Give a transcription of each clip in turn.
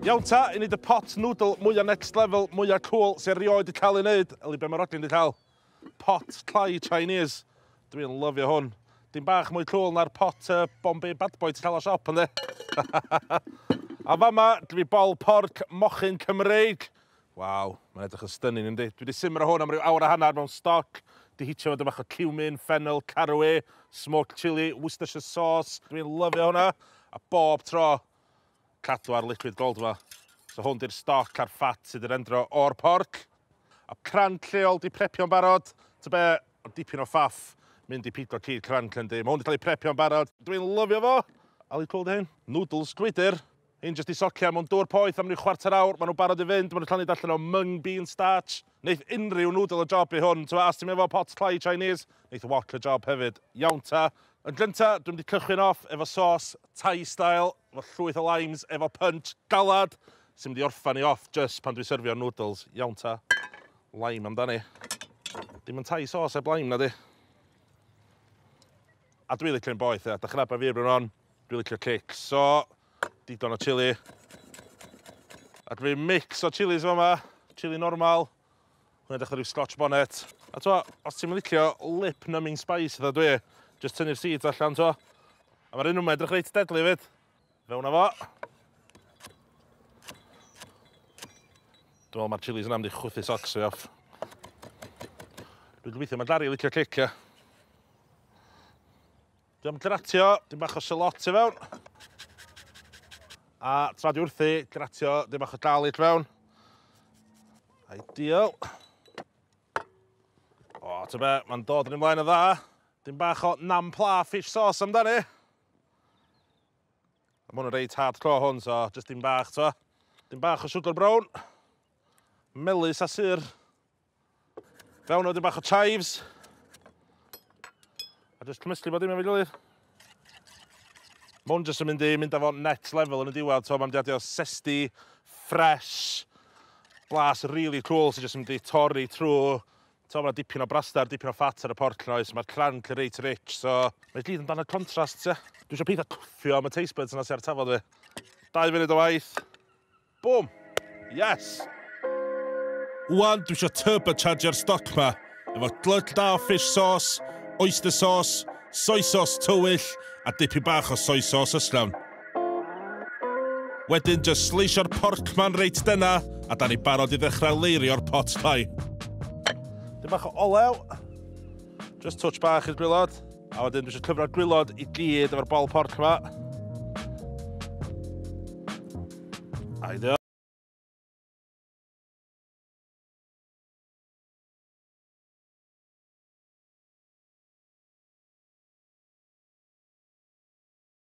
Iawn ta, i wneud y pot noodle mwya next level, mwya cool sy erioed wedi cael ei wneud. Eli, be mae Rodney wedi cael? Pot tlai Chinese. Dwi'n lyfio hwn. Dim bach mwy cool na'r pot uh, Bombay Bad Boy ti'n cael o siop, ynddi? A fama, dwi bol porc mochyn Cymreig. Waw, mae'n edrych yn stunning yndi? Dwi wedi simro hwn am ryw awr a hanner mewn stoc, wedi hitio fo 'da bach o cumin, ffennel, caraway, smoked chilli, Worcestershire sauce, dwi'n lyfio hwnna, a bob tro, cadw ar liquid gold fo. So hwn di'r stoc a'r ffat sydd 'di rendro o'r porc. A cranc lleol 'di prepio'n barod, ta be, ond dipyn o faff mynd i pigo cig cranc yndi? Mae hwn 'di cael ei prepio'n barod, dwi'n lyfio fo! Ali cwrw 'di hyn? Noodles gwydyr! Hyn jyst i socian, mewn dŵr poeth am ryw chwarter awr, maen nhw'n barod i fynd, maen nhw'n llanid allan o mung bean starch. Neith unrhyw noodle y job i hwn, t'mo' os ti'm efo pot tlai Chinese, neith wok y job hefyd. Iawn ta. Yn gynta, dwi mynd i cychwyn off efo sos Thai style, efo llwyth o limes, efo punch galad, sy'n mynd i orffan i off jyst pan dwi'n syrfio'r noodles. Iawn ta. Lime amdani. Dim yn Thai sauce heb lime, nadi? A dwi licio un boeth, ia. Dach chi'n nabod fi erbyn hon, dwi licio cics. So, digon o chili. A dwi mix o chilis fama, chili normal, hwnna dechrau rhyw scotch bonnet. A to, os ti'n licio lip numbing spice dda dwi, just tynnu'r seeds allan to. A mae'r un yma edrych reit deadly fyd. Fewn â fo. Dwi'n meddwl mae'r chilis yna am di chwythu socks fi off. Dwi'n gobeithio mae Dari licio cicio. Dwi'n gratio, dim bach o sylot i fewn. A tra di wrthi, gratio, dim bach o gael i fewn. Ideal. O, ti'n be, mae'n dod yn ymlaen o dda. Dim bach o nam pla fish sauce amdani. Mae hwn yn reit hard clo hwn, so jyst dim bach, to. Dim bach o sugar brown. Melus a syr. Fewn o dim bach o chives. A jyst cymysgu bod dim efo'i gilydd. Mae hwn jyst yn mynd i mynd â fo net level yn y diwedd, to. Mae'n mynd i sesti, fresh, blas really cool sy'n jyst yn mynd i torri trwy T'mo' ma' dipyn o braster, dipyn o ffat ar y porc 'na oes, ma'r cranc yn reit rich, so mae gyd amdan y contrast ie? Dwi isio peidio cwffio am y taste buds 'na sy ar tafod fi. Dau funud o waith. Bwm! Yes! Ŵan dwi isio turbochargio'r stoc 'ma efo glötch da o fish sauce, oyster sauce, soy sauce tywyll a dipyn bach o soy sauce ysgafn. Wedyn jyst sleisio'r porc ma'n reit dena, a da ni barod i ddechrau leirio'r pot pie. Dim bach o olew, just touch bach i'r gwylod, a wedyn dwi eisiau cyfro'r gwylod i gyd efo'r bol porc yma. Aidio.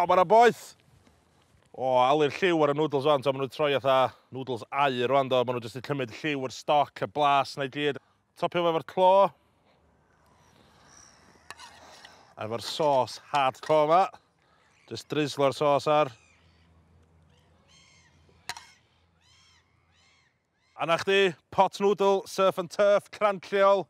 O, mae'na boeth! O, alu'r lliw ar y noodles o'n, to, maen nhw'n troi atha noodles aur rwan, do. Maen nhw jyst yn cymryd lliw, yr stoc, y blas, na i gyd. Topio fo efo'r clo. Efo'r sos hardcore ma. Jyst drislo'r sos ar. A 'na chdi, pot noodle, surf and turf, crand lleol,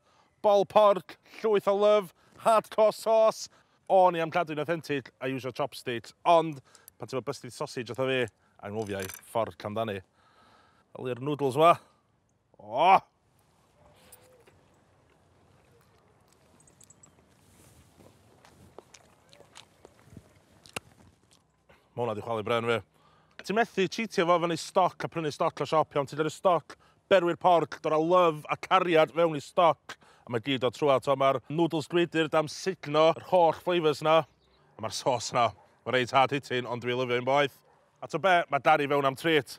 bol porc, llwyth o love, hardcore sauce. O'n i am cadw'n authentic a iwsio chopsticks, ond pan ti efo busted sausage fatha fi, anghofia i, fork amdani. Wel i'r noodles wa. O! Mae hwnna wedi chwalu bren fi. Ti'n methu cheatio fo fyny stoc a prynu stoc o siop iawn. Ti'n dod y stoc, berwi'r porc, dod â love a cariad fewn i stoc. A mae gyd o trwa, to mae'r noodles gwydr dam signo yr holl flavours na. A mae'r sauce na. Mae'n reit hard hitting, ond dwi lyfio un boeth. A to be, mae Dari fewn am treat.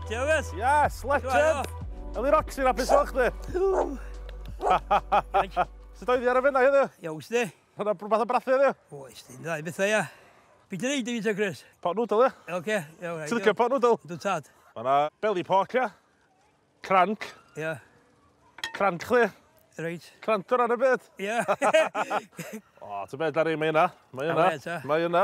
Dewes! Yes, legend! Eli Roxy, na beth o'ch di? Sut oedd i ar y fennau heddiw? Iawn, sdi. Hwna brwbath o brathu heddiw? Oes, di'n dda i bethau, ia. Beth yn ei di fita, Chris? Pot noodle, ia? Oce, iawn. Ti'n licio pot noodle? Dwi'n tad. Mae yna belly pork, ia? Cranc. Ia. Cranc, chdi. Reit. Cranc o ran y byd. Ia. o, ti'n beth ar ei, mae yna. Mae yna. Mae yna.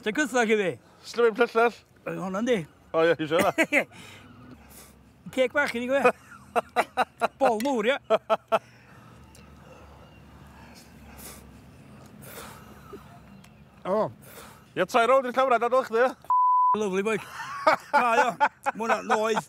Ti'n gytha chi fi? Slyfyn plyllell? Oedd hwnna di. O ie, eisiau hwnna. Ceg bach i ni gwe. Bol mwr, ia. O. Ia, trai rownd i'r camera, dadol chdi, ia? Lovely boy. Na, ia. Mwna, noeth.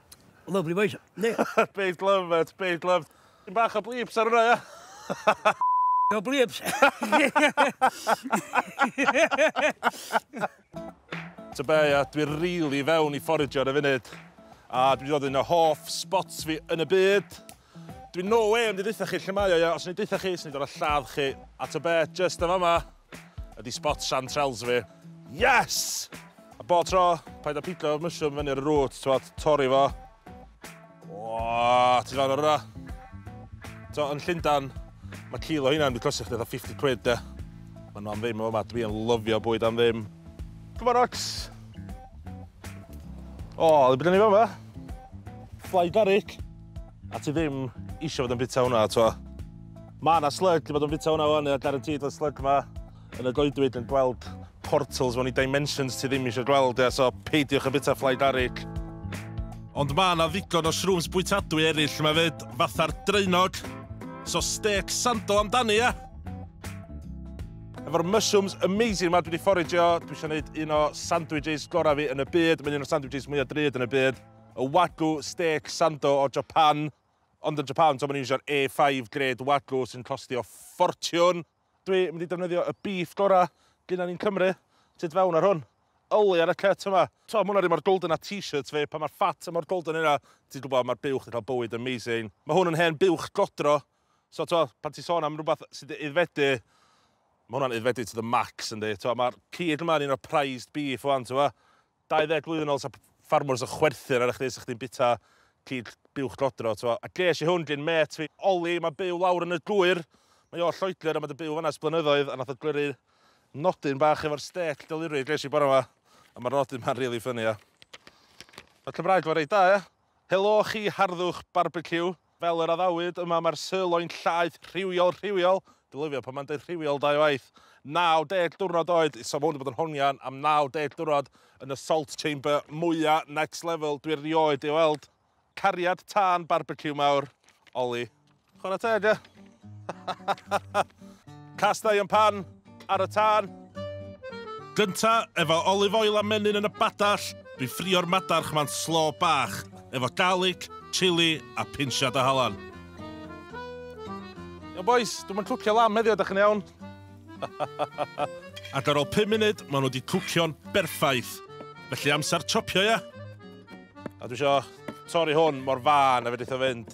Lovely voice, ne? Big love, mate, big love. Yn bach o bleeps ar hwnna, ia? No bleeps. Ta be, ia, dwi rili fewn i fforagio ar y funud. A dwi wedi dod yn y hoff spots fi yn y byd. Dwi no way yn mynd i ddeutha chi lle mae o ia, os o'n i'n deutha chi, swn i'n dod â lladd chi. A ta be, jyst yn fama ydi spot chanterelles fi. Yes! A bob tro, paid â pigo mushroom i fyny ar y root, t'mod, torri fo. Whaa, ti'n gweld hwnna? T'mod, yn Llundain, mae kilo heina yn mynd i costio chdi fatha 50 quid de. Mae nhw am ddim yn fama, dwi yn lyfio bwyd am ddim. Come on Ox! O, le bydden ni fama? Fly garlic. A ti ddim isio fod yn bwyta hwnna, twa. Mae yna slug i fod yn bwyta hwnna wan, guaranteed y slug yma yn y goedwig yn gweld portals mewn i dimensions ti ddim eisiau gweld, ia, so peidiwch yn bwyta fly garlic. Ond mae yna ddigon o shrooms bwytadwy eraill mae fyd, fatha'r draenog, so steak sandal amdani, ia? Efo'r mushrooms amazing yma dwi wedi fforagio, dwi eisiau gwneud un o sandwiches gorau fi yn y byd, mae'n un o'r sandwiches mwyaf drud yn y byd. Y Wagyu Steak Sando o Japan, ond yn Japan, so maen nhw'n iwsio'r A5 gred Wagyu sy'n costio ffortiwn. Dwi mynd i defnyddio y beef gorau gynna ni'n Cymru, tu fewn ar hwn. Yli ar y cut yma. T'mo, ma' hwnna rhy mor golden â t-shirts fi, pan mae'r fat yn mor golden yna, ti'n gwybod, mae'r buwch yn cael bywyd amazing. Mae hwn yn hen buwch godro, so t'mo, pan ti'n sôn am rywbeth sydd 'di aeddfedu, mae hwnna'n aeddfedu to the max yndi. T'mo, mae'r cig yma yn un o'r prized beef ŵan, t'mo. 20 blwyddyn ol sa ffarmwrs yn chwerthin arna chdi sa chdi'n bita cig buwch dodro t'mo'. A ges i hwn gin mêt fi Oli ma'n byw lawr yn y gŵyr mae o o Lloegr a ma' 'di byw fan'na ers blynyddoedd a nath o glyru nodyn bach efo'r stêc deliri ges i bore 'ma a ma'r nodyn 'ma'n rili ffyni a ma'r Cymraeg fo reit da ia? Helo chi harddwch barbeciw. Fel yr addawyd, yma mae'r sirloin llaeth rhywiol, rhywiol, dwi'n lyfio pan mae'n deud rhywiol dau waith, 90 diwrnod oed, so mae hwn wedi bod yn hongian am 90 diwrnod yn y salt chamber mwya next level dwi erioed ei weld. Cariad tân barbeciw mawr, Oli. Chwarae teg, ie? Castau yn pan, ar y tân. Gynta, efo olive oil a menyn yn y badall, dwi ffrio'r madarch ma'n slo bach, efo garlic, chili a pinsiad o halan. Iawn bois, dwi'm yn cwcio lamb heddiw, ydych chi'n iawn? Ac ar ôl 5 munud, maen nhw wedi cwcio'n berffaith. Felly amser topio, ia? A dwi isio torri hwn mor fân a fedrith o fynd.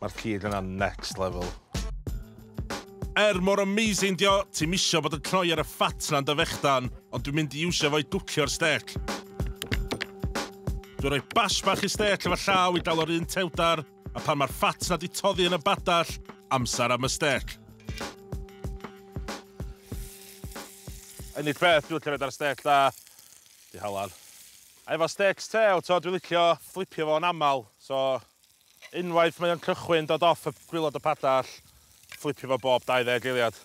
Mae'r cig yna next level. Er mor amazing dio, ti'm isio bod yn cnoi ar y fat na'n dy fechdan, ond dwi'n mynd i iwsio fo i dwcio'r stêc. Dwi'n rhoi bash bach i stêc efo llaw i dalo'r un tewdar, a pan mae'r fat na di toddi yn y badall, amser am y stêc. Unig beth dwi'n licio wneud ar stêc da, di halan. A efo stêcs tew, t'o, dwi'n licio fflipio fo'n aml, so Unwaith mae o'n cychwyn dod off y gwilod y padall, fflipio fo bob 20 eiliad.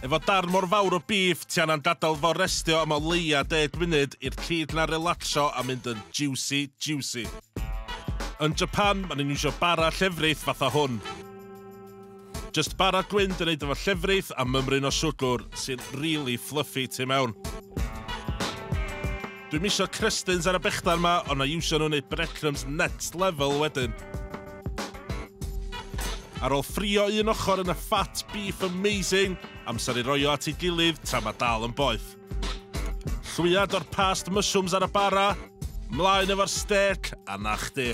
Efo darn mor fawr o bîff, ti angan gadael fo restio am o leia 10 munud i'r cig 'na relatsio a mynd yn jiwsi jiwsi. Yn Japan, ma' nhw'n iwsio bara llefrith fatha hwn. Jyst bara gwyn di neud efo llefrith a mymryn o siwgwr sy'n rili fluffy tu mewn. Dwi'm isio crystins ar y bechdan ma ond na iwsio nhw neud breadcrumbs next level wedyn. Ar ôl ffrio un ochr yn y fat beef amazing, amser i roi o at ei gilydd tra ma dal yn boeth. Llwyad o'r past mushrooms ar y bara, mlaen efo'r stêc a na chdi.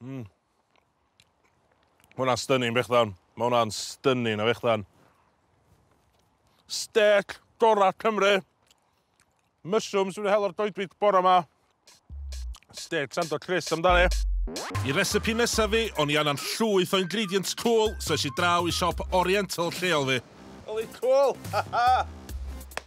Mm. Mae hwnna'n stunning fechddan. Mae hwnna'n stunning o fechddan. Steak gorau Cymru. Mushrooms wedi hel o'r goedwig bore yma. Steak sando Chris amdani. I recipe nesaf fi, o'n i anna'n llwyth o ingredients cool, so eisiau draw i siop oriental lleol fi. Holy cool! Ha ha!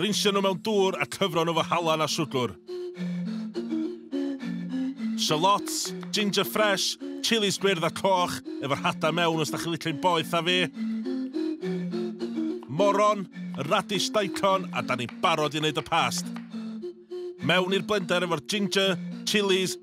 Rinsio nhw mewn dŵr a cyfro nhw fo halan a siwgr. Shallots, ginger fresh, chilis gwyrdd a coch efo'r hadau mewn os da chi'n licio hi'n boeth a fi. Moron, y radish daikon a da ni'n barod i wneud y past. Mewn i'r blender efo'r ginger, chilis,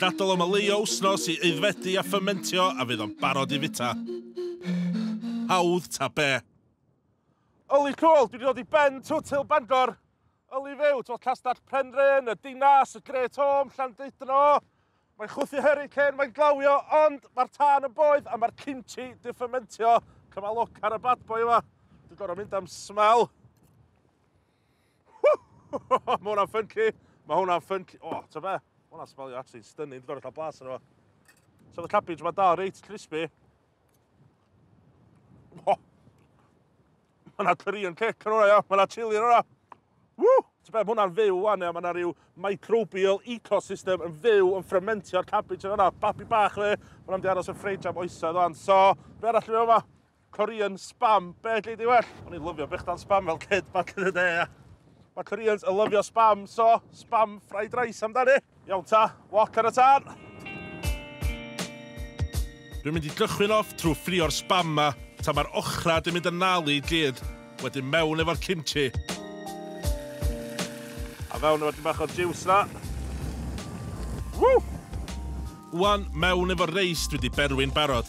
Gadael o maleio wsnos i aeddfedu a ffymentio a fydd o'n barod i fita. Hawdd ta be. Yli cwl, dwi 'di dod i ben twt Hill Bangor. Yli fyw, twll castell Penrhyn, y Dinas, y Great Home, Llandudno. Mae'n chwythu heri cyn mae'n glawio, ond mae'r tân yn boeth a mae'r kimchi di ffymentio. Cymal look ar y bad boy yma. Dwi'n gorau mynd am smell. Mae hwnna'n ffynci. Mae hwnna'n ffynci. O, oh, ta fe? Mae hwnna'n smelio actually stunning. Dwi'n gorau blas yna fo. So the cabbage mae dal reit crispy. Oh. Mae yna curry yn cic yn hwnna, ia. Mae yna chili yn hwnna. Woo! Ta be, mae hwnna'n fyw wan, ia. Mae yna rhyw microbial ecosystem yn fyw yn fframentio'r cabbage yn hwnna. Babi bach fe. Mae hwnna'n di aros yn ffridge am oesoedd o'n. So, be arall dwi'n meddwl yma? Korean spam, be lle di well? O'n i'n lyfio brechdan spam fel kid back in the day, ia. Mae Koreans yn lyfio spam, so spam fried rice amdani. Iawn ta, walk ar y tân. Dwi'n mynd i gychwyn off trwy ffrio'r spam ma, ta mae'r ochra dwi'n mynd yn nal i gyd, wedyn mewn efo'r kimchi. A fewn efo'r dyn bach o'r juice na. Woo! Wan, mewn efo'r reis dwi wedi berwi'n barod.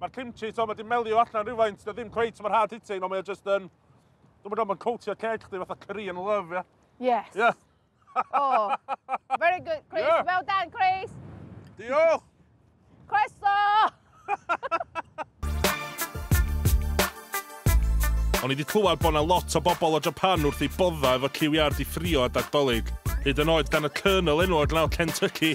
Mae'r kimchi, to, mae di melio allan rhywfaint, da ddim cweit mor hard hitting, ond mae o just yn... Dwi'n meddwl mae'n coatio ceg chdi fatha Korean love, ie? Yeah? Yes. Yeah. oh, very good, Chris. Yeah. Well done, Chris. Diolch. Croeso! O'n i wedi clywed bod yna lot o bobl o Japan wrth ei bodda efo ciwiau di ffrio a dagdolig. Hyd yn oed gan y Colonel enw o Glenelg Kentucky,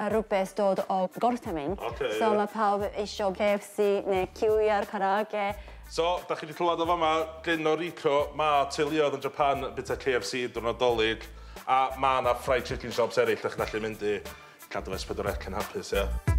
a rhywbeth dod o gorthymyn. Ocê, ie. So ma' pawb isio KFC neu QR Karaoke. So, da chi 'di clywed o fama, gyn o Rico, ma' teuluoedd yn Japan yn bwyta KFC diwrnod Dolig, a ma' 'na fried chicken shops eryll 'da chi'n gallu mynd i. Cadw S4C yn hapus, ie?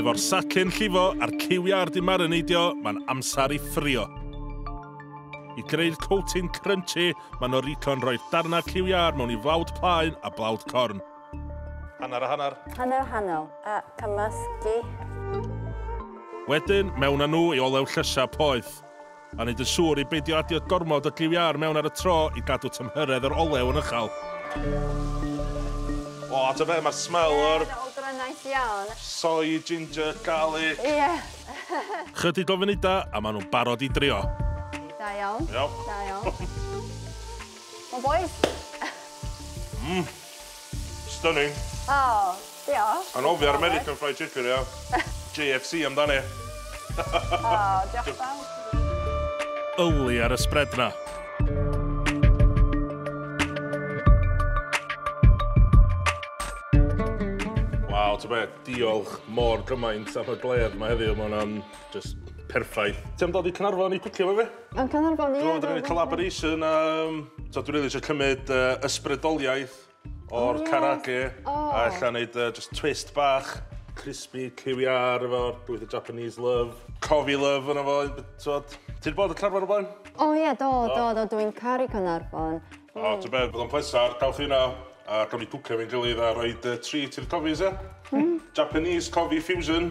Efo'r sacle'n llifo a'r lliwiau ar di marineidio, mae'n amser i ffrio. I greu'r coating crunchy, mae Noriko'n rhoi'r darnau lliwiau mewn i flawd plaen a blawd corn. Hanner a hanner. Hanner a hanner, a cymysgu. Wedyn, mewn â nhw i olew llysiau poeth. a wneud yn siŵr i beidio adio gormod o giw iâr mewn ar y tro i gadw tymhyredd yr olew yn uchal. O, ta be, mae'r smell o'r... Ie, smell gryniaeth iawn. ...soy, ginger, garlic. Ie. Chydig o funudau a maen nhw'n barod i drio. Da iawn. Da iawn. Iawn. Come on boys. Mmm. Stunning. O, diolch. Anofio'r American Fried Chicken ia. JFC amdani. O, diolch fawr. Owly ar y spread 'na. Waw, ta be, diolch mor gymaint am y glêr 'ma heddiw, ma' hwnna'n jyst perffaith. Ti am dod i Caernarfon i cwcio efo fi? Yn Caernarfon ie. Dwi 'di neud collaboration yym t'od dwi rili isio cymyd yy ysbrydoliaeth o'r karage a ella neud yy jyst twist bach crispy cyw iâ ar efo bwyd y Japanese love, cofi love arno fo b- t'od? Ti 'di bod yn Caernarfon o'r blaen? O ie do do do dwi'n caru Caernarfon. O t'o' be' bydd o'n pleser ca'l chi yna a gawn ni gwcio efo'n gilydd a roid yy treat i'r cofis ia? Hmm. Japanese cofi fusion.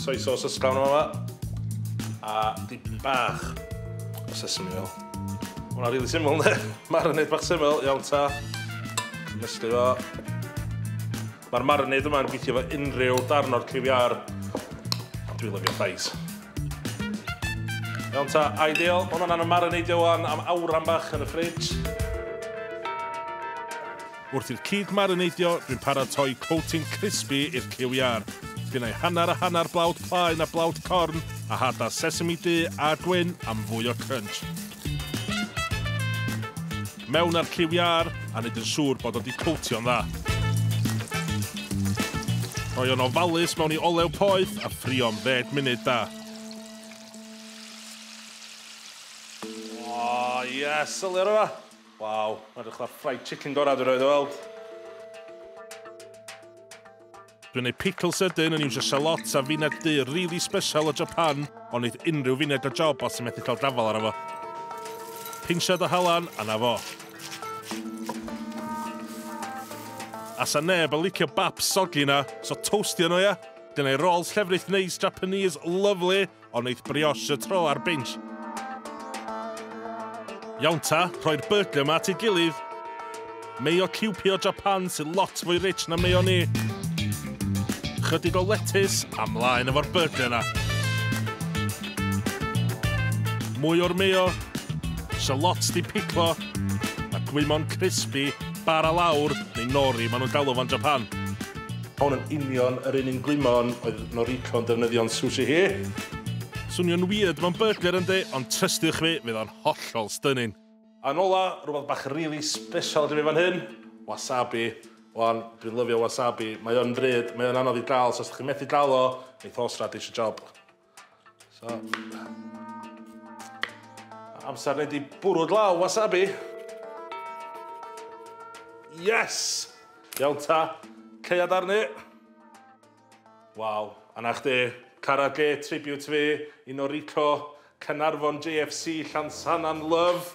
Soy sauce o sbran yma. A di bach o sesame oil. Hwna rili syml ne? Marinade bach syml, iawn ta. Mysgu fo. Mae'r marinade yma'n gweithio fo unrhyw darn o'r cliwiar. Dwi'n lyfio llais. Iawn ta, ideal. Hwna'n anna marinadeio wan am awran bach yn y ffridge. Wrth i'r cig marineidio, dwi'n paratoi coating crispy i'r cyw iâr. Pinnau hanner a hanner blawd plaen a blawd corn a hada sesame du a gwyn am fwy o crunch. Mewn â'r cyw iâr a neud yn siŵr bod o 'di coatio'n dda. Rhoi o'n ofalus mewn i olew poeth a ffrio am ddeg munud da. O, yes! Sylwi ar yma! Waw, mae'r edrych fatha fried chicken gorau dwi roed o weld. Dwi'n ei pickle sydyn yn iwsio shallots a fined du really special o Japan, ond neith unrhyw fined o job os ti'n methu cael gafal ar efo. Pinsiad o halan, a na fo. A sa neb yn licio bap soggy na, so toastio nhw ia? Dyna'i rolls llefrith neis Japanese, lovely, Ond neith brioche y tro ar binch. Iawn ta, rhoi'r burger ma at ei gilydd. Mayo ciwpio Japan sy'n lot fwy rich na mayo ni. Chydig o lettuce a mlaen efo'r burger na. Mwy o'r mayo, shallots di piclo, a gwymon crispy, bara lawr, neu nori, maen nhw'n galw fo'n Japan. Hon yn union yr un un gwymon oedd Noriko'n defnyddio'n sushi hi. Swnio'n weird mewn burger yndi, ond trystiwch fi, fydd o'n hollol stunning. Yn ola, rwbath bach rili sbeshal gen fi fan hyn, wasabi. Wan, dwi'n lyfio wasabi, mae o'n bryd, mae o'n anodd i gael, so os dych chi'n methu gael o, neith horseradish y job. So. Amser neu di bwrw glaw wasabi. Yes! Iawn ta, ceiad arni. Waw, anna chdi. Cara G, tribute fi, un o Rico, Cynarfon JFC, Llansannan, love.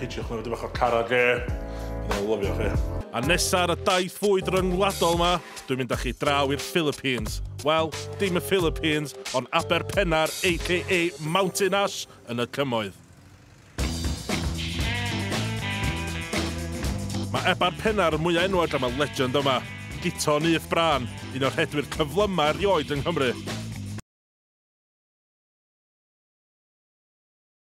Hitio'ch nhw, dyma chi'r cara ge. Dwi'n lyfio chi. A nesa ar y daith fwyd ryngwladol ma, dwi'n mynd â chi draw i'r Philippines. Wel, dim y Philippines, ond Aber Pennar, a.k.a. Mountain Ash, yn y cymoedd. Mae Ebar Pennar yn mwyaf enwog am y legend yma, Guto Nyth Bran, un o'r rhedwyr cyflymau erioed yng Nghymru.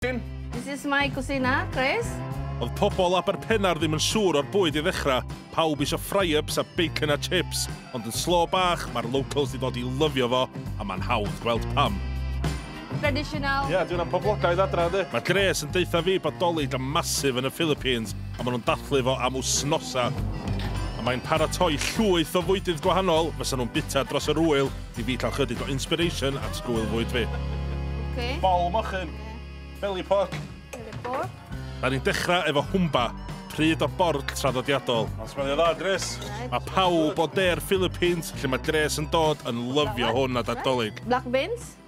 This is my kusina, Chris. Oedd pobl Aberpennar ddim yn siŵr o'r bwyd i ddechrau, pawb isio fry-ups a bacon a chips, ond yn slo bach mae'r locals di dod i lyfio fo a mae'n hawdd gweld pam. Traditional. Ie, yeah, dwi'n am poblogaidd adra, ynddi. Mae Grace yn deutha fi bod doli da masif yn y Philippines a maen nhw'n dathlu fo am wsnosa. A mae'n paratoi llwyth o fwydydd gwahanol fysa nhw'n bita dros yr wyl i fi cael chydig o inspiration at sgwyl fwyd fi. Okay. Bol mochyn. Yeah. Belly pork. Belly pork. Da ni'n dechrau efo hwmba, pryd o bord traddodiadol. Mae'n smelio dda, Gres. Mae pawb o de'r Philippines lle mae Gres yn dod yn lyfio hwn a dadolig. Black beans,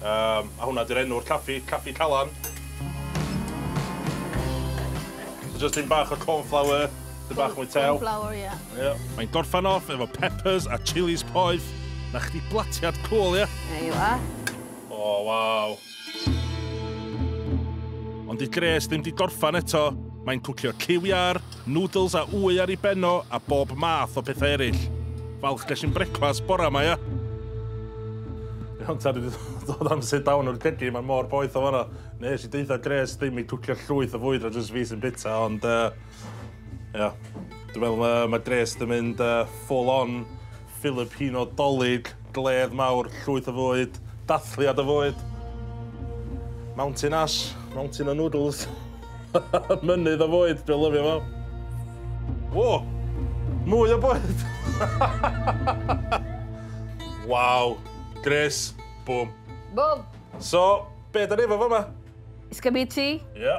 Yym, a hwnna 'di'r enw'r caffi, Caffi Calan. So jyst tyn bach o cornflour, tyn bach mwy tew. Cornflour, ie. Ie. Mae'n gorffan off efo peppers a chilis poeth. Na chdi blatiad cwl, ie? There you are. O, waw. Ond 'di Grace ddim 'di gorffan eto. Mae'n cwcio cyw iâr, Nwdls a wy ar i ben o a bob math o pethau ereill. Falch ges i'n brecwast bora ma ia. Iawn ta, dwi 'di dod am sit down o'r cegin, mae mor boeth o fanna. Nes i deutha Grace ddim i cwcio llwyth o fwyd na jyst fi sy'n bita, ond yy ia. Dwi'n meddwl yy ma' Grace 'di mynd yy full on Filipino 'Dolig, gledd mawr, llwyth o fwyd, dathliad o fwyd. Mountain Ash, mountain o noodles. Mynydd o fwyd, dwi'n lyfio fo. O! Mwy o bwyd! Waw! Gres! Bwm! Bwm! So, be' 'dan ni efo fama? Is-gabiti. Ie.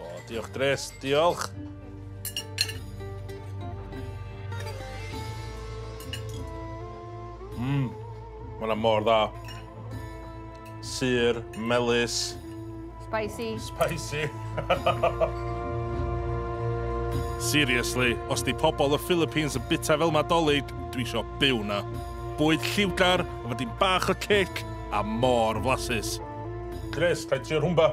O, diolch Dres, diolch! Mmm, mae hwnna mor dda. Sur, melus. Spicy. Spicy. Seriously, os di pobl y Philippines yn bita fel Nadolig, dwi isio byw na. Bwyd lliwgar, efo dim bach o cic, a mor flasus. Chris, rhaid ti o'r hwmba.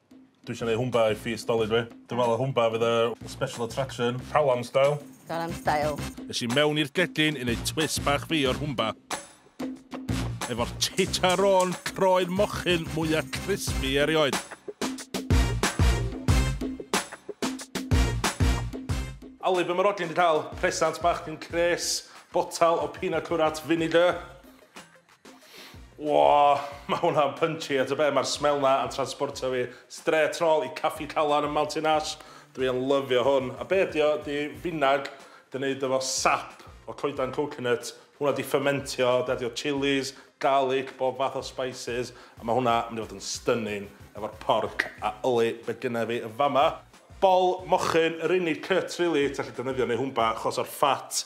Dwi isio neud Hwmba i Feast Dolig fi. Dwi'n meddwl Hwmba fydd y special attraction. Galan style. Galan style. Es i mewn i'r gegin i neud twist bach fi o'r Hwmba. Efo'r chicharron croen mochyn mwya crispy erioed. Ali, be' ma' Rhodri di ca'l? Presant bach gin Chris. Botal o pina curate vinegar. Wooh! Mae hwnna'n punchy a tybed, mae'r smell 'na yn transbortio fi strêt nôl i Caffi Calan ym Mountain Ash. Dwi yn lyfio hwn. A be ydi o? Ydi finag, ydi o'n neud efo sap o coedan coconut, hwnna wedi ffyrmentio, ydi adio chilis, garlic, bob fath o spices, a mae hwnna mynd i fod yn stunning efo'r porc a yllu be gynna fi yn fama. Bol mochyn yr unig cut rili ti allu defnyddio neu hwnba achos o'r fat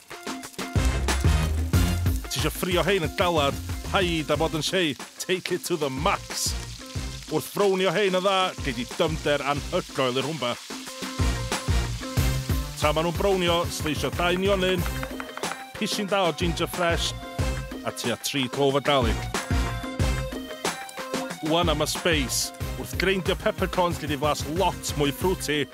Ti eisiau ffrio hein yn galad, paid â bod yn shei, take it to the max! Wrth frownio hein yn dda, gei di dyfnder anhygoel i'r rhwmba. Tra maen nhw'n brownio, sleisio dau nionyn, pishyn da o ginger ffres, a tua tri clove o garlic. Ŵan am y sbeis. Wrth greindio peppercorns gei di flas lot mwy fruity.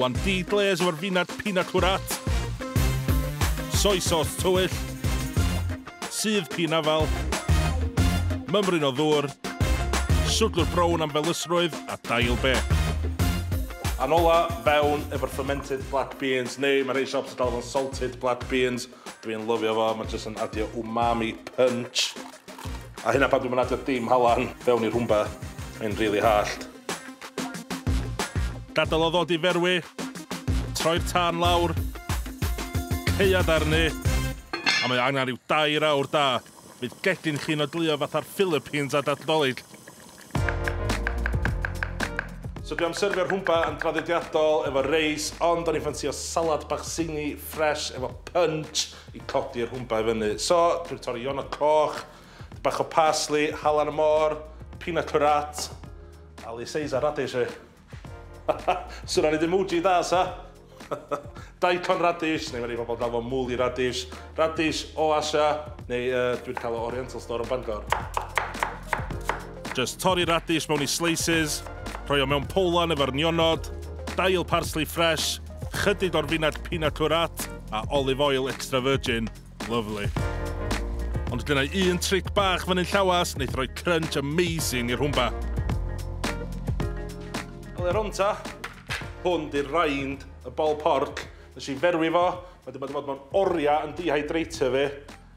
One tea glaze efo'r finard pina curat. Soy sauce tywyll. Sudd pin afal. Mymryn o ddŵr. Swdlwr brown am felysrwydd a dail be. A'n ola, fewn efo'r fermented black beans, neu mae rhei siops'n galw fo'n salted black beans. Dwi'n lyfio fo, ma' jyst yn adio umami punch. A hynna pan dwi'm yn adio dim halan fewn i rhwmba, mae'n rili hallt. Gadael o ddod i ferwi, troi'r tân lawr, caead arni, a mae o angen rhyw dair awr da. Bydd gegin chi'n oedleuo fatha'r Philippines ar Dadl Dolig. So dwi am serfio rhwmpa yn draddodiadol efo reis, ond o'n i'n ffansio salad bach zingy, fresh, efo punch i codi'r rhwmpa i fyny. So, dwi'n torri ionod coch, dipyn bach o parsley, halen y môr, pina curate, a lyseis a radish i. Swn i'n neud emoji dda, sa? Daikon radish, neu mae rhai pobl yn galw fo muli radish, radish o Asia, neu yy dwi'n cael o Oriental Store yn Bangor. Jyst torri radish mewn i slices, rhoi o mewn powlan efo'r nionod, dail parsley fresh, chydig o'r fined pina curat, a olive oil extra virgin, Lovely. Ond gyda un tric bach fan hyn llawas, wneud rhoi crunch amazing i'r hwmba. Ole'r honta, hwn di'r raind, y bol porc. Nes i ferwi fo, mae wedi bod fod mewn oriau yn dehydrator fi.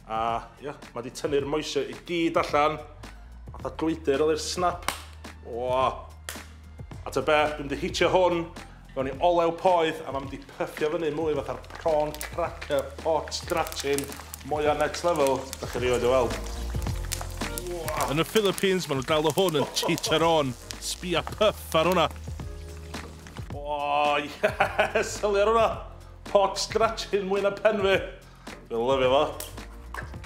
A ia, yeah, mae wedi tynnu'r moisio i gyd allan. Fatha glwydyr ole'r snap. O! A ta be, dwi'n mynd i hitio hwn Gawn ni olew poeth a ma' mynd i pyffio fyny mwy fatha'r prawn cracker pot drachin mwya next level dach chi rioed 'di weld. Wha! Yn y Philippines ma' nhw'n galw hwn yn chicharron, sbia pyff ar hwnna! O yes! Sylwi ar hwnna! Pot drachin mwy na pen fi! Dwi'n lyfio fo.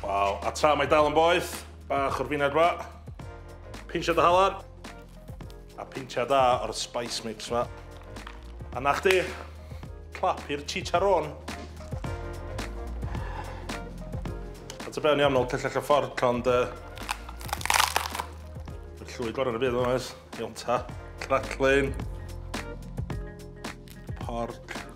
Waw, a tra mae dal yn boeth, bach o'r fined fa. Pinsiad o halan. A pinsiad da o'r spice mix fa. A na chdi, clap i'r chicharron. A ta be o'n i am nôl cyllell a fforc, ond... Uh, llwy gorau yn y byd, o'n oes. Iawn ta, craclin. Porc.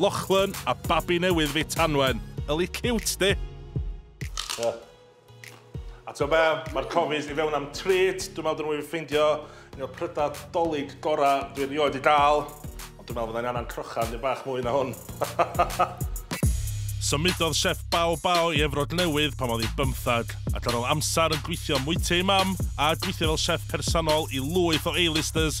Lochlyn a babi newydd fi Tanwen. Yli ciwt di! Ie. A t'o' be'? Ma'r cofis i fewn am treat. Dwi'n me'wl dylwn i ffeindio un o'r prydau 'Dolig gora' dwi erioed 'di ga'l. Ond dwi'n me'wl fyddai'n angan crochan dipyn bach mwy na hwn. Symudodd Chef Bao Bao i Efrog Newydd pan oedd hi'n bymthag, ac ar ôl amser yn gweithio am Mwyty ei Mam, a gweithio fel chef personol i lwyth o A-listers,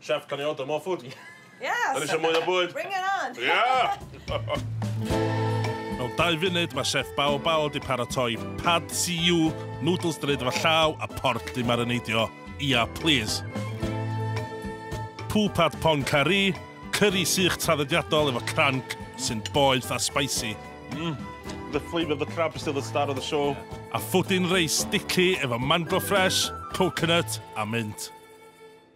Chef, can I order more food? Yes! Dyn ni eisiau mwy o bwyd! Bring it on! Yeah! Mewn dau funud, mae Chef Bao Bao wedi paratoi Pad Siu, noodles dyn efo llaw a porc di marineidio. Ia, please! Poo Pad Pong Curry, curry sych traddodiadol efo cranc sy'n boeth a spicy. Mm. The flavour of the crab is still the star of the show. A ffwdin reis sticky efo mango fresh, coconut a mint.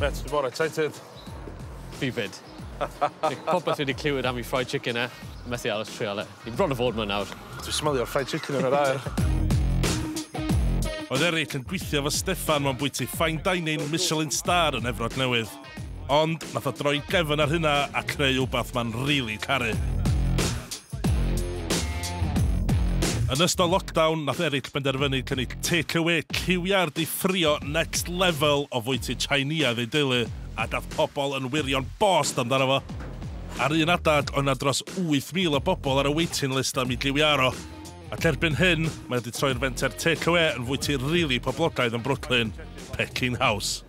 Reit, dwi mor excited. Fi 'fyd. Popeth fi 'di clywed am 'i fried chicken e. Methu aros trial e. Fi bron a fod 'ma nawr. Dwi smelio fried chicken yn yr aer. Oedd Eric yn gweithio efo Steffan mewn bwyty fine dining Michelin star yn Efrog Newydd. Ond nath o droi gefn ar hynna a creu wbath ma'n rili caru. Yn ystod lockdown, nath Eric benderfynu cynnig take away ciwiau'r di ffrio next level o fwyty Tsieineaidd ei deulu, a dath pobl yn wirio'n bost amdano fo. Ar un adeg, oedd 'na dros 8,000 o bobl ar y waiting list am i giwiau aro. Ac erbyn hyn, mae o 'di troi'r fenter take away yn fwyty rili poblogaidd yn Brooklyn, Peking House.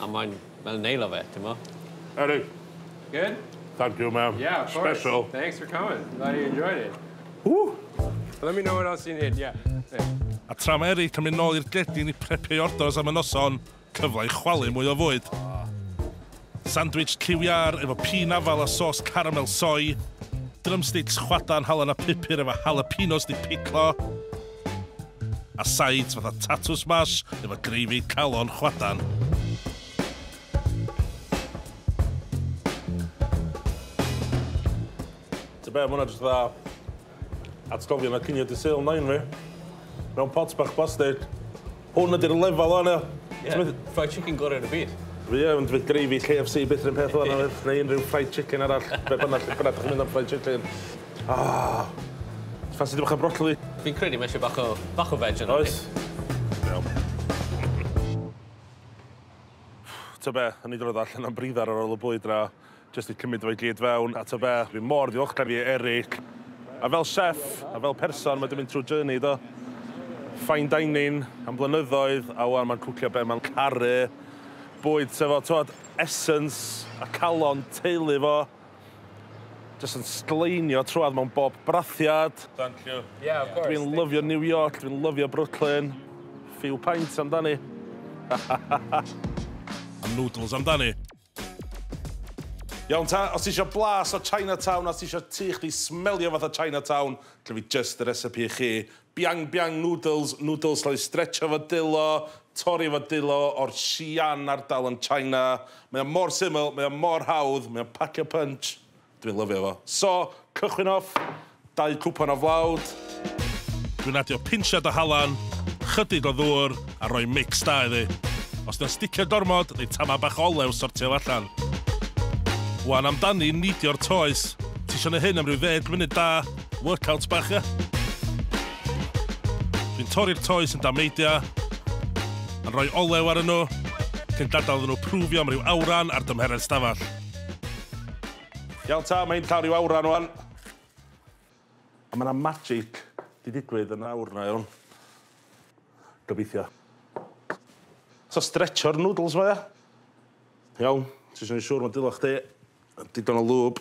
A mae'n fel neil o fe, t'mo? Eric. Good? Thank you man. Yeah, of course. Special. Thanks for coming. Glad you enjoyed it. Woo! Let me know what else you need, yeah. A tra mae Eric yn mynd nôl i'r gredin i prepio'i orders am y noson, cyfle i chwalu mwy o fwyd. Sandwich lliw iâr efo pîn afal a sos caramel soy, drumsticks chwadan halen a pupur efo jalapenos 'di piclo, a sides fatha tatws smash efo gravy calon chwadan. Ti'n be, mwna jyst fatha atgofion a cinio di sale nain fi. Mewn pot bach plastig. Hwn ydy'r lefel o'n e. Ie, fried chicken gorau yn y byd. Fi yn dweud gravy KFC byth rhywun peth o'n e, neu unrhyw fried chicken arall, be bynnag, lle bynnag chi'n mynd am fried chicken. Ah! Ffansi dipyn bach o brocoli? Fi'n credu ma' isie bach o bach o veg arno ni. Oes. Iawn. T'o' be'? O'n i drodd allan am briddar ar ôl y bwyd 'na jyst i cymyd o i gyd fewn, a t'o' be'? Fi mor ddiolchgar i Eric. A fel chef, a fel person ma' 'di mynd trw journey do? Fine dining am blynyddoedd, a ŵan ma'n cwcio be' ma'n caru, bwyd sy efo t'wod essence a calon teulu fo. Jyst yn sgleinio trwad mewn bob brathiad. Thank you. Yeah, of course. Dwi'n lyfio New York, dwi'n lyfio Brooklyn. Few pints amdani. A noodles amdani. Iawn ta, os ti isio blas o Chinatown a os ti isio tŷ chdi smelio fatha Chinatown, gynna fi jyst y recipe i chi. Biang Biang Noodles, nwdls llai stretch efo dulo, torri efo dulo o'r Xi'an ardal yn China. Mae o mor syml, mae o mor hawdd, mae o'n pacio punch. Dwi'n lyfio fo. So, cychwyn off, dau cwpan o flawd. Dwi'n adio pinsiad o halan, chydig o ddŵr a rhoi mix da iddi. Os 'di o'n sticio gormod, neu tama bach o olew, sortia fo allan. Wan amdani neidio'r toes. Ti isio neu hyn am ryw ddeg munud da, workouts bach, ia. Dwi'n torri'r toes yn damneidia, yn rhoi olew ar yno, cyn gadael iddyn nhw prwfio am ryw awran ar dymheredd stafell. Iawn ta, mae'n llaw ryw awran o'n. A mae yna magic di digwydd yn awr na iawn. Gobeithio. So stretcho'r noodles mae e. Iawn, ti eisiau siŵr mae dilach di. Digon o lŵb.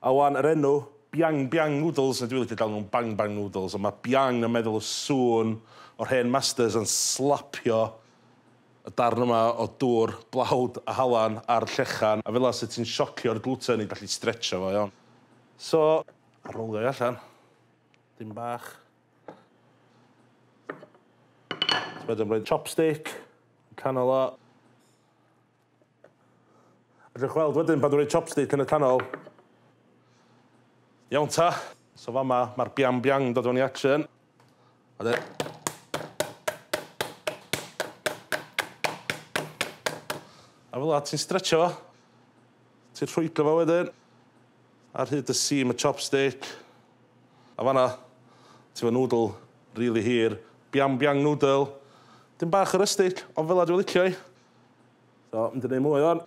A ŵan, yr enw, Biang Biang Noodles, a dwi licio galw nhw'n Bang Bang Noodles, ond mae Biang yn meddwl y sŵn o'r hen masters yn slapio y darn yma o dŵr, blawd a halan a'r llechan, a fela 'set ti'n siocio'r gluten i gallu stretsio fo iawn. So, rowlio hi allan, dipyn bach. Wedyn rhoi chopstick yn canol o. Allwch weld wedyn pan dwi'n rhoi chopstick yn y canol. Iawn ta. So fama, mae'r biang biang yn dod fewn i action. A de... A fel yna, ti'n stretcho fo. Ti'n rhwygo fo wedyn. Ar hyd y seam y chopstick. A fanna, ti fo noodle, really hir. Biang biang noodle. Dim bach o rustic, ond fel yna dwi'n licio hi. So, mynd i neud mwy o'n.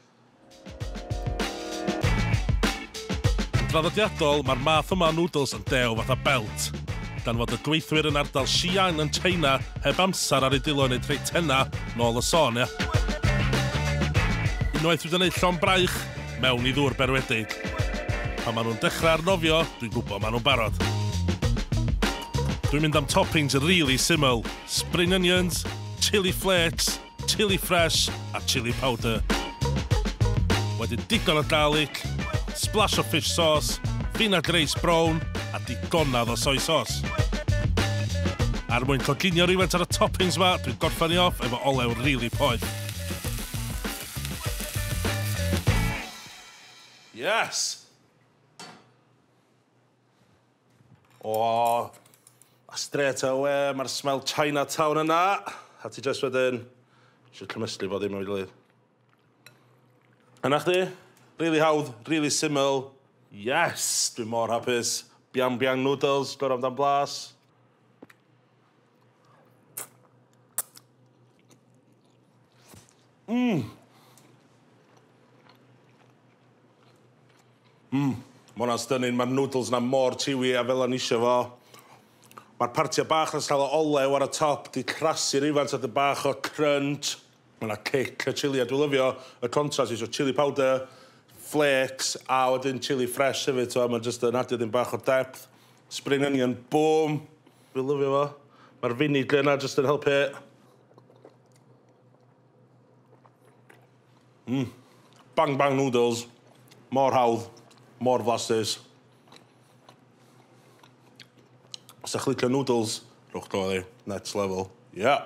Yn draddodiadol, mae'r math yma o noodles yn dew fatha belt. Gan fod y gweithwyr yn ardal Xi'an yn China heb amser ar eu dwylo i wneud rhei tenna, nôl y sôn, ia? Unwaith dwi'n gwneud llon braich, mewn i ddŵr berwedig. Pan maen nhw'n dechrau arnofio, dwi'n gwybod maen nhw'n barod. Dwi'n mynd am toppings rili syml, spring onions, chili flakes, chili ffres a chili powder. Wedyn digon o garlic, splash o fish sauce, vinagreis brown a digonedd o soy sauce. Ar er mwyn coginio rhywfaint ar y toppings yma, dwi'n gorffen i off efo olew rili really poeth. Yes! O! A strêt awe ma'r smell Chinatown yna. A ti jyst wedyn isio cymysgu fo ddim efo'i gilydd. A 'na chdi. Rili hawdd, rili syml. Yes! Dwi mor hapus. Biang Biang Noodles, gorau amdan blas. Mmm! Mmm, ma' wnna'n stunning, ma'r noodles 'na mor chewy a fel o'n i isio fo. Ma'r partia bach 'na'n sâl o olew ar y top 'di crasi'r ifans a 'dyn bach o crunch. Ma' 'na cic y chilli a dwi lyfio y contrast reit so chilli powder, flêcs a wedyn chilli ffres hefyd t'mo' ma'n jyst yn adio 'dyn bach o depth. Spring onion, bûm! Dwi lyfio fo. Ma'r finigre yna jyst yn helpu. Mm. Bang bang noodles. Mor hawdd, mor flasus. Os ydych chi'n licio noodles, rhowch draw iddi. Next level. Ie! Yeah.